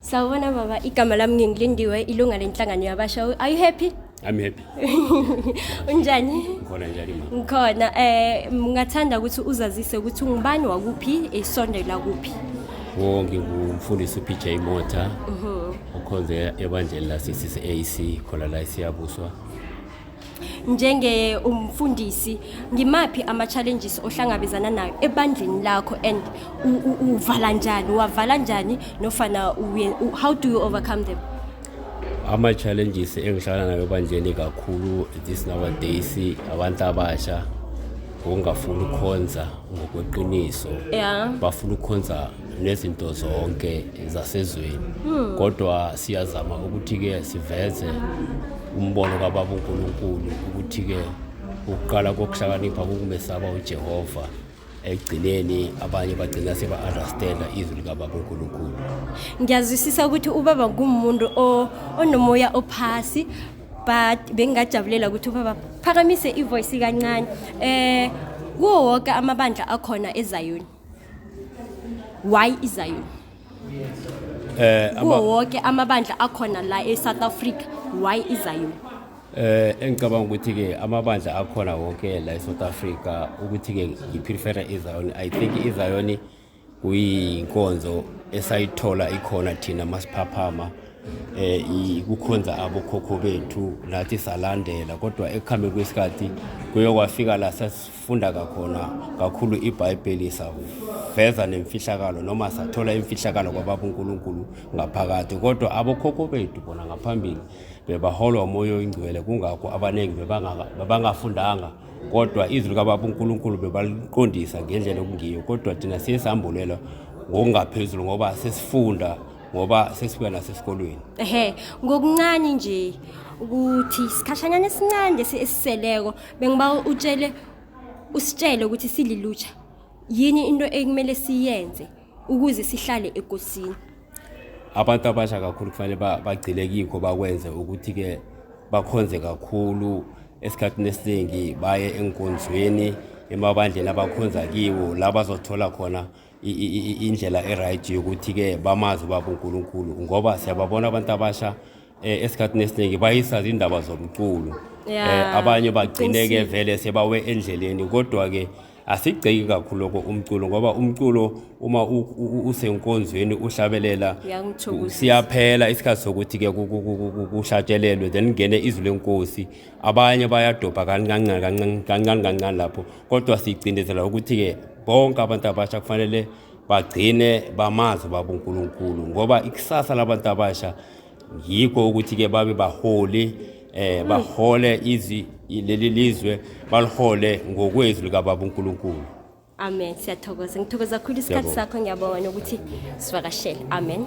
Sawubona baba, igama lami ngingilindiwe ilunga lenhlangano yabasha. Are you happy? I'm happy. Unjani? Ngikhona njani mama? Ngikhona. Eh ngingathanda ukuthi uzazise ukuthi ungubani wakuphi esondela kuphi. Wo ngingumfundisi uPJ Mota. Mhm. Okhonze ebandleni la CCAC khona la siyabuswa. njenge umfundisi ngimaphi ama challenges ohlangabezana nayo ebandleni lakho and uvala njani wavala njani nofana how do you overcome them ama challenges engihlala nayo ebandleni kakhulu this nowadays abantu abasha ngokungafuni ukukhonza ngokweqiniso yeah. bafuna ukukhonza nezinto zonke zasezweni hmm. kodwa siyazama ukuthi-ke siveze umbono kababa uNkulunkulu ukuthi-ke ukuqala kokuhlakanipha kukumesaba uJehova ekugcineni abanye bagcina seba-understanda izwi likababa uNkulunkulu ngiyazwisisa ukuthi ubaba ngumuntu onomoya ophasi but bengingajabulela ukuthi ubaba phakamise ivoyisi kancane um kuwo wonke amabandla akhona ezayoni why izion eh kuwo wonke amabandla akhona la e-south africa why izion eh engicabanga ukuthi ke amabandla akhona wonke la e-south africa ukuthi ke ngiprefera izion i think izion kuyinkonzo esayithola ikhona thina masiphaphama eh kukhonza abokhokho bethu nathi salandela kodwa ekuhambeni kwesikhathi kuyokwafika la funda kakhona kakhulu ibhayibheli saveza nemfihlakalo noma sathola imfihlakalo kwababa unkulunkulu ngaphakathi kodwa abokhokho bethu bona ngaphambili bebaholwa umoya oyingcwele kungakho abaningi bebangafundanga kodwa izwi likababa unkulunkulu bebaliqondisa ngendlela okungiyo kodwa thina siye sambulelwa ngokungaphezulu ngoba sesifunda ngoba sesibuya nasesikolweni ehe ngokuncane nje ukuthi sikhashanyana esincane esiseleko bengiba utshele usitshele ukuthi sililutsha yini into ekumele siyenze ukuze sihlale egosini abantu abasha kakhulu kufanele bagcile kikho bakwenze ukuthi-ke bakhonze kakhulu esikhathini esiningi baye enkonzweni emabandleni abakhonza kiwo la bazothola khona indlela e-right yokuthi-ke bamazi ubaba unkulunkulu ngoba siyababona abantu abasha um esikhathini esiningi bayisazi indaba zomculo um abanye bagcine-ke vele sebawe endleleni kodwa-ke asigceki kakhulu lokho umculo ngoba umculo uma usenkonzweni uhlabelela siyaphela isikhathi sokuthi-ke kushatshelelwe then kungene izwi lenkosi abanye bayadobha kancane kancane kancane kancane lapho kodwa sigcindezela ukuthi-ke bonke abantu abasha kufanele bagcine bamazi baba uNkulunkulu ngoba ikusasa labantu abasha yikho ukuthi ke babe baholi eh bahole izi leli lizwe balihole ngokwezwi likababa uNkulunkulu amen siyathokoza ngithokoza kakhulu isikhathi sakho ngiyabonga ukuthi sivakashele amen